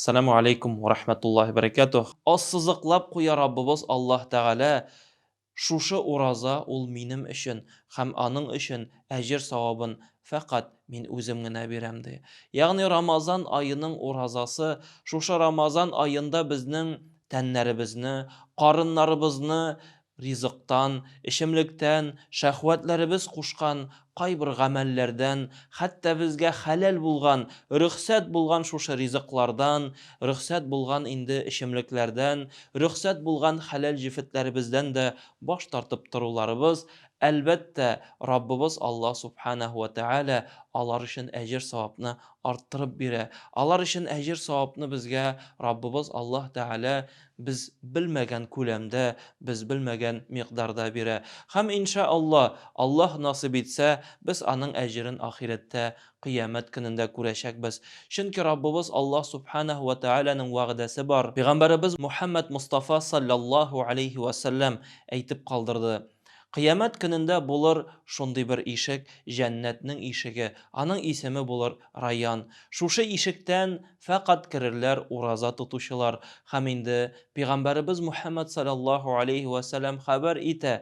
Саләмү алейкум уә рахмәтуллаһи уә бәрәкәтүһ. Ассызыклап куя Раббыбыз Аллаһ Тәгалә, Шушы ураза ул минем өчен һәм аның өчен әҗер-савабын фәкать мин үзем генә бирәм, ди. Ягъни Рамазан аеның уразасы шушы Рамазан аенда безнең тәннәребезне, карыннарыбызны Ризыктан, эчемлектән, шәһвәтләребез кушкан кайбер гамәлләрдән, хәтта безгә хәләл булган, рөхсәт булган шушы ризыклардан, рөхсәт булган инде эчемлекләрдән, рөхсәт булган хәләл җефетләребездән дә баш тартып торуларыбыз, әлбәттә, Раббыбыз Аллаһ Сүбхәнәһү вә Тәгалә алар өчен әҗер-савапны арттырып бирә. Алар өчен әҗер-савапны безгә Раббыбыз Аллаһ Тәгалә Без белмәгән күләмдә, без белмәгән микъдарда бирә. Һәм иншә Алла, Аллаһ насыйп итсә, без аның әҗерен ахирәттә, кыямәт көнендә күрәчәкбез. Чөнки Раббыбыз Аллаһ Сүбхәнәһү вә Тәгаләнең вәгъдәсе бар. Пәйгамбәребез Мухәммәд Мостафа салләллаһу галәйһи вә сәлләм әйтеп калдырды, Кыямәт көнендә булыр шундый бер ишек, җәннәтнең ишеге, аның исеме булыр Райян. Шушы ишектән фәкать керерләр ураза тотучылар. Һәм инде Пигамбәребез Мухәммәд саләллаһу аләйһи вә сәләм хәбәр итә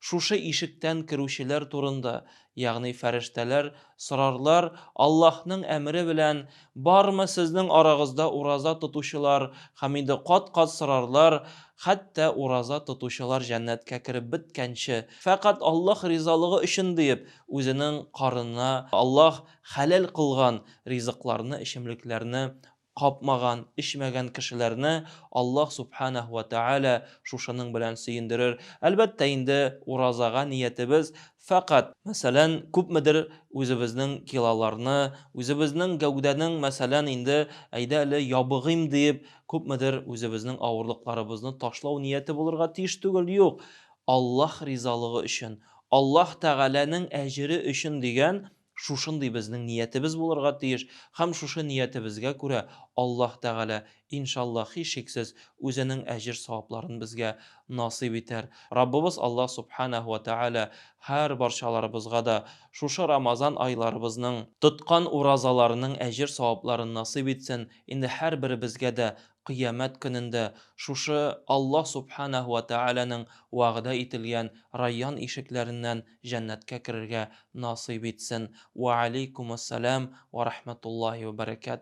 шушы ишектән керүчеләр турында, Ягъни фәрештәләр сорарлар, Аллаһның әмере белән, Бармы сезнең арагызда ураза тотучылар? Һәм инде кат-кат сорарлар, хәтта ураза тотучылар җәннәткә кереп беткәнче, фәкать Аллаһ ризалыгы өчен диеп, үзенең карынына Аллаһ хәләл кылган ризыкларны, эчемлекләрне Капмаган, эчмәгән кешеләрне Аллаһ Сүбхәнәһү вә Тәгалә шушының белән сөендерер. Әлбәттә инде, уразага ниятебез фәкать, мәсәлән, күпмедер үзебезнең килоларны, үзебезнең гәүдәнең, мәсәлән, инде, әйдә әле ябыгыйм диеп, күпмедер үзебезнең авырлыкларыбызны ташлау нияте булырга тиеш түгел, юк, Аллаһ ризалыгы өчен, Аллаһ Тәгаләнең әҗере өчен дигән Шушындый безнең ниятебез булырга тиеш һәм шушы ниятебезгә күрә Аллаһ Тәгалә, иншаллаһ, һичшиксез, үзенең әҗер-савапларын безгә насыйп итәр. Раббыбыз Аллаһ Субханәһү вә Тәгалә һәрбарчаларыбызга да шушы Рамазан айларыбызның, тоткан уразаларының әҗер-савапларын насыйп итсен, инде һәрберебезгә дә Кыямәт көнендә шушы Аллаһ Сүбхәнәһү вә Тәгаләнең вәгъдә ителгән Райян ишекләреннән җәннәткә керергә насыйп итсен. Вә алейкумуссәлам вә рахмәтуллаһи вә бәрәкәтүһ.